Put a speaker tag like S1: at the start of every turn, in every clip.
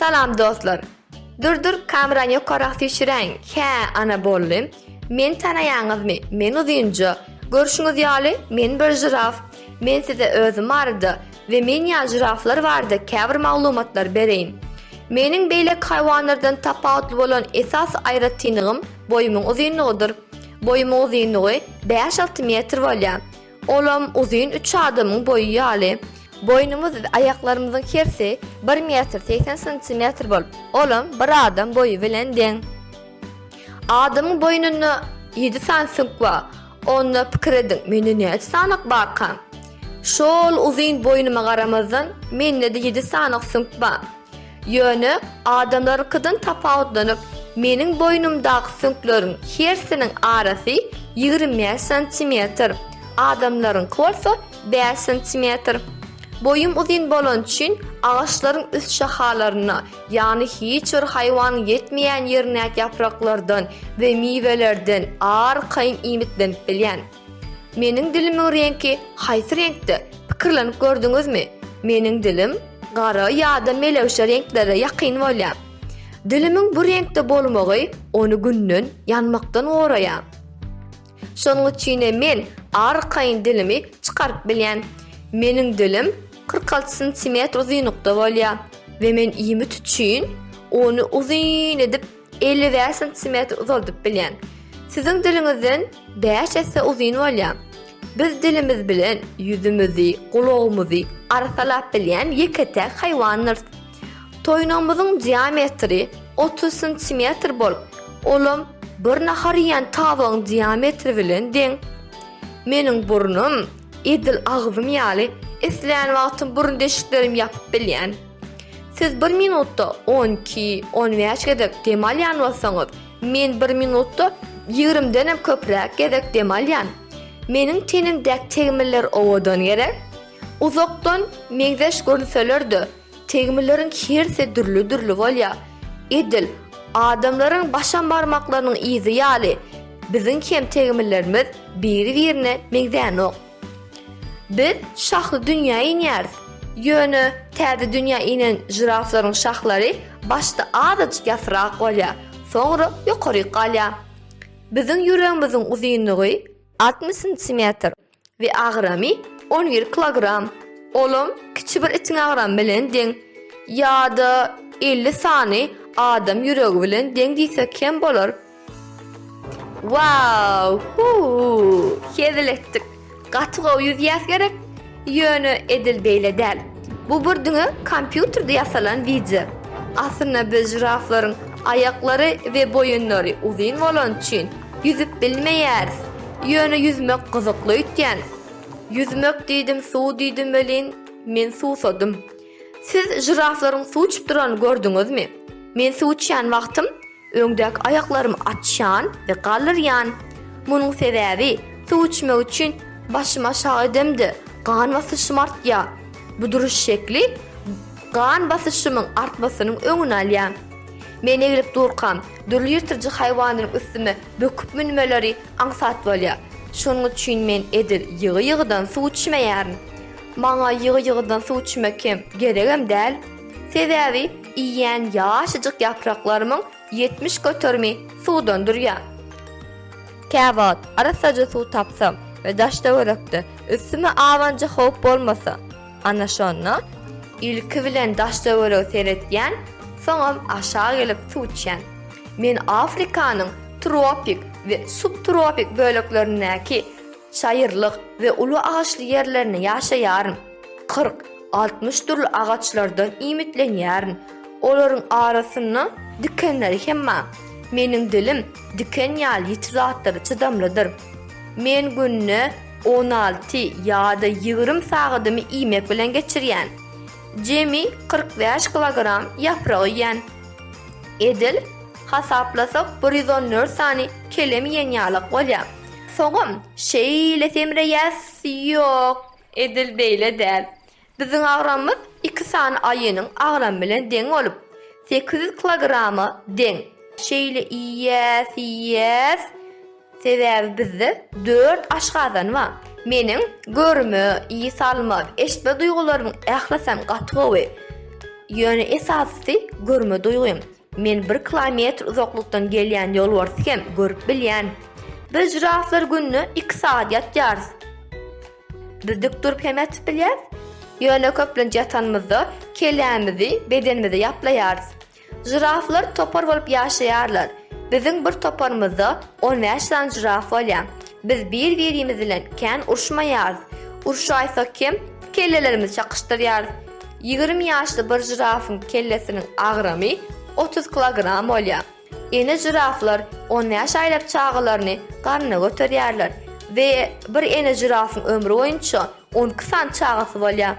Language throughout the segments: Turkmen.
S1: Salam dostlar. Durdur kamerany ýokarak süýşüräň. Hä, ana boldy. Men tanaýaňyzmy? Men uzynja. Görşüňiz ýaly, men bir žiraf. Men size özüm barada We men ýa žiraflar barada käbir maglumatlar bereýin. Meniň beýleki haýwanlardan tapawutly bolan esas aýratynlygym boýumyň uzynlygydyr. Boýumyň uzynlygy bäş-alty metr bolýar. Olam uzyn üç adamyň boýy ýaly. Boýnumyz we aýaklarymyzyň hersi bir metr segsen santimetr bolup, olam bir adam boýy bilen deň. Adamyň boýnunda ýedi sany süňk bar. Onda pikir ediň, mende näçe sanak barka? Şo-ol uzyn boýnuma garamazdan, mende-de ýedi sanak süňk bar. Ýöne, adamlaryňkydan tapawutlanyp, meniň boýnumdaky süňkleriň hersiniň arasy ýigrimi bäş santimetr, adamlaryňky bolsa bäş santimetr. Boýum uzyn bolany üçin, agaçlaryň üst şahalaryna, Ýagny hiç bir haýwan ýetmeýän ýerindäki ýapraklardan we miwelerden arkaýyn iýmitlenip bilýän. Meniň dilimiň reňki haýsy reňkde, pikirlenip gördüňizmi? Meniň dilim gara ýa-da melewşe reňklere ýakyn bolýar. Dilimiň bu reňkde bolmagy ony günden ýanmakdan goraýar. Şonuň üçinem men arkaýyn dilimi çykaryp bilýän. Meniň dilim kyrk alty santimetr uzynlykda bolýar we men iýmit üçin ony uzyn edip elli bäş santimetr uzaldyp bilýän. Siziň diliňizden bäş esse uzyn bolýar. Biz dilimiz bilen ýüzümizi, gulagymyzy arsalap bilýän ýeke-täk haýwandyrys. Toýnagymyzyň diametri otuz santimetr bolup, olam bir nahar iýen tabagyň diametri bilen deň. Meniň burnum edil agzym ýaly, islän wagtym burun deşiklerimi ýapyp bilýän. Siz bir minutda on iki, on bäş gezek dem alýan bolsaňyz, men bir minutda ýigrimiden hem köpräk gezek dem alýan. Meniň tenimdäki tegmiller owadan gerek? Uzakdan meňzeş görünseler-de, tegmilleriň hersi dürli-dürli bolýar. Edil, adamlaryň başam barmaklarynyň yzy ýaly, biziň hem tegmillerimiz biri-birine meňzänok. Biz şahly dünýä inýäris. Ýöne täze dünýä inen žiraflaryň şahlary başda azajyk ýasyrak bolýar, soňra ýokaryk galýar. Biziň ýüregimiziň uzynlygy altmyş sentimetr, we agramy on bir kilogram, olam kiçi bir itiň agramy bilen deň, ýa-da elli sany adam ýüregi bilen deň diýsek kem bolar. Waww huuw hezil etdik gaty gowy ýüzýäs gerek ýöne edil beýle däl bu bir diňe kompýuterde ýasalan wideo aslynda biz žiraflaryň aýaklary we boýunlary uzyn bolany üçin Ýüzüp bilmeýäris. Ýöne ýüzmek gyzykly öýtýän. Ýüzmek diýdim, suw diýdim welin, men suwsadym. Siz žiraflaryň suw içip duranyny gördüňizmi? Men suw içýän wagtym öňdäki aýaklarymy açýan we galdyrýan. Munuň sebäbi, suw içmek üçin başymy aşak edemde, gan basyşym artýar. Bu duruş şekli gan basyşymyň artmasynyň öňüni alýar. Men eglip durkam, dürli ýyrtyjy haýwanyň üstüme böküp münmeleri aňsat bolýar. Şonuň üçin men edil ýygy-ýygydan suw içmeýärin. Maňa ýygy-ýygydan suw içmek hem geregem däl. Sebäbi iýýän ýaşajyk ýapraklarymyň ýetmiş göterimi suwdan durýar. Käwagt arassaja suw tapsam we daş-töwerekde üstüme abanja howp bolmasa, Ana şonda ilki bilen daş-töwerege seretýän, soňam aşak gelip suw içýän. Men Afrikanyň tropik we subtropik böleklerindäki çaýyrlyk we uly agaçly ýerlerinde ýaşaýaryn. Kyrk, altmyş dürli agaçlardan iýmitlenýärin. Olaryň arasynda dikenleri hem bar. Meniň dilim diken ýaly ýiti zatlara çydamlydyr. Men günde On alty ýa-da ýigrimi sagadymy iýmek bilen geçirýän. Jemi kyrk bäş kilogram ýaprak iýýän. Edil hasaplasak bir ýüz on dört sany kelem iýen ýalak bolýar. Soňam şeýle semreýäs, ýok, edil beýle däl. Biziň agramymyz iki sany aýynyň agramy bilen deň bolup, sekiz ýüz kilograma deň. Şeýle iýýäs, iýýäs. Sebäbi bizde dört aşgazan bar. Meniň görme, ys alma we eşitme duýgularymyň ählisem gaty gowy. Ýöne esasysy görme duýgym. Men bir kilometr uzaklykdan gelýän ýolbarsy hem görüp bilýän. Biz žiraflar günde iki sagat ýatýarys. Biz dik durup hem ýatyp bilýäris. Ýöne köplenç ýatanymyzda kellämizi bedenimize ýaplaýarys. Žiraflar topar bolup ýaşaýarlar. Biziň bir toparymyzda on bäş sany žiraf bolýar. Biz bir-birimiz bilen kän urşmaýarys. Urşaýsak hem kellelerimizi çakyşdyrýarys. Ýigrimi ýaşly bir žirafyň kellesiniň agramy otuz kilogram bolýar. Ene žiraflar on bäş aýlap çagalaryny garnyna göterýärler we bir ene žirafyň ömri boýunça on iki sany çagasy bolýar.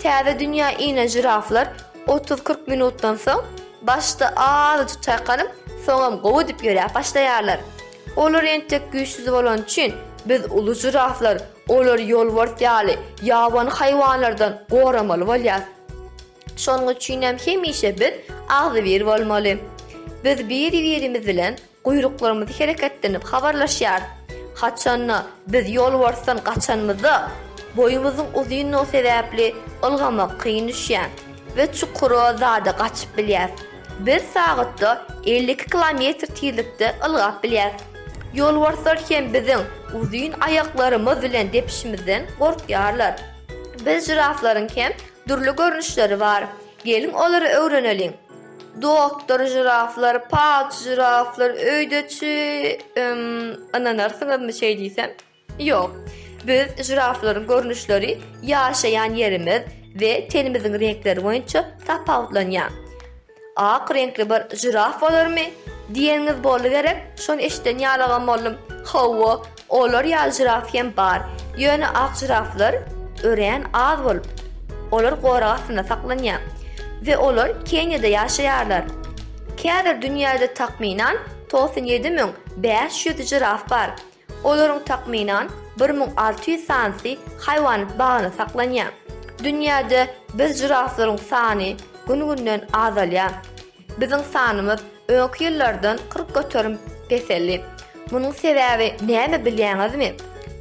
S1: Täze dünýä inen žiraflar otuz-kyrk minutdan soň başda azajyk çaýkanyp, soňam gowy edip ýöräp başlaýarlar. Olar entek güýçsüz bolany üçin, biz uly žiraflar olary ýolbars ýaly ýabany haýwanlardan goramaly bolýarys. Şonuň üçin hem hemişe biz agzybir bolmaly. Biz biri-birimiz bilen guýruklarymyzy hereketlenip habarlaşýarys. Haçan-da, biz ýolbarsdan gaçanymyzda, boýumyzyň uzyndygy sebäpli ylgamak kyn düşýär we çukura zada gaçyp bilýäris. Biz sagatda elli iki kilometr tizlikde ylgap bilýäris. Ýolbarslar hem biziň uzyn aýaklarymyz bilen depişimizden gorkýarlar. Biz žiraflaryň hem Dürli görnüşleri bar. Geliň olary öwreneliň. Doktor žiraflar, palçy žiraflar, öýdeçi, üm, ynanarsyňyzmy şeý diýsem? Ýok. Biz žiraflaryň görnüşleri ýaşaýan ýerimiz we tenimiziň reňkleri boýunça tapawutlanýar. Ak reňkli bir žiraf bolarmy? diýeniňiz boldy gerek, şony eşiden ýalyňam boldum. Hawa, olar ýaly žiraf hem bar. Ýöne ak žiraflar örän az bolup, olar gorag astynda saklanýar we olar Keniýada ýaşaýarlar. Käbir dünýäde takmynan togsan ýedi müň bäş ýüz žiraf bar. Olaryň takmynan bir müň alty ýüz sanysy haýwanat bagynda saklanýar. Dünýäde biz žiraflaryň sany gün-günden azalýar. Biziň sanymyz öňki ýyllardan kyrk göterim peseldi. Munuň sebäbi näme bilýäňizmi?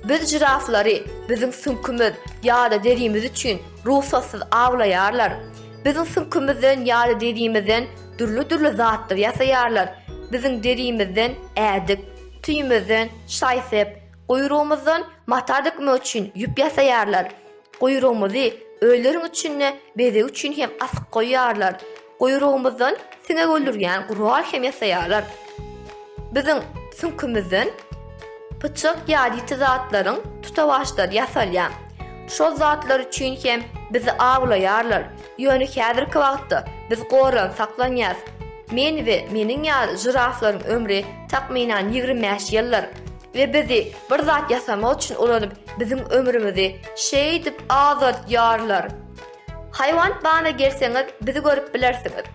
S1: Biz žiraflary biziň süňkümiz ýa-da derimiz üçin rugsatsyz awlaýarlar. Biziň süňkümizden ýa-da derimizden dürli-dürli zatlar ýasaýarlar. Biziň derimizden ädik. Tüýümizden şaý sep, guýrugymyzdan mata dikmek üçin ýüp ýasaýarlar. Guýrugymyzy öýleriň içinde bezeg üçin hem asyp goýýarlar. Guýrugymyzdan siňek öldürýän gural hem ýasaýarlar. Biziň süňkümizden pyçak ýadyti zatlaryň tutawaçlary ýasalýar. Şol zatlar üçin hem bizi awlaýarlar. Ýöne häzirki wagtda biz goran saklanýas. Men we meniň ýaly žiraflaryň ömri takmynan ýigrimi bäş ýyldyr we bizi bir zat ýasamak üçin ulanyp, biziň ömrümizi şeýdip azaldýarlar. Haýwanat bagyna gelseňiz, bizi görüp bilersiňiz.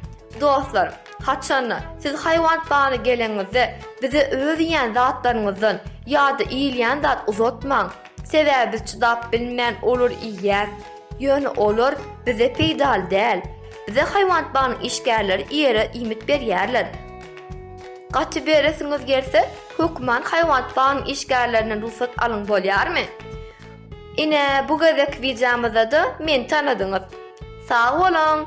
S1: Dostlar, haçanda siz haýwanat bagyna geleniňizde, bize öz iýen zatlaryňyzdan ýa-da iýilýän zat uzatmaň, sebäbi biz çydap bilmän olary iýýäs. Ýöne olar bize peýdaly däl. Bize haýwanat bagnyň işgärleri ýere iýmit berýärler. Gaty beresiňiz gelse, hökman haýwanat bagnyň işgärlerinden rugsat alyň bolýarmy? Ine, bu gezek wideomyzda-da meni tanadyňyz. Sag boluň!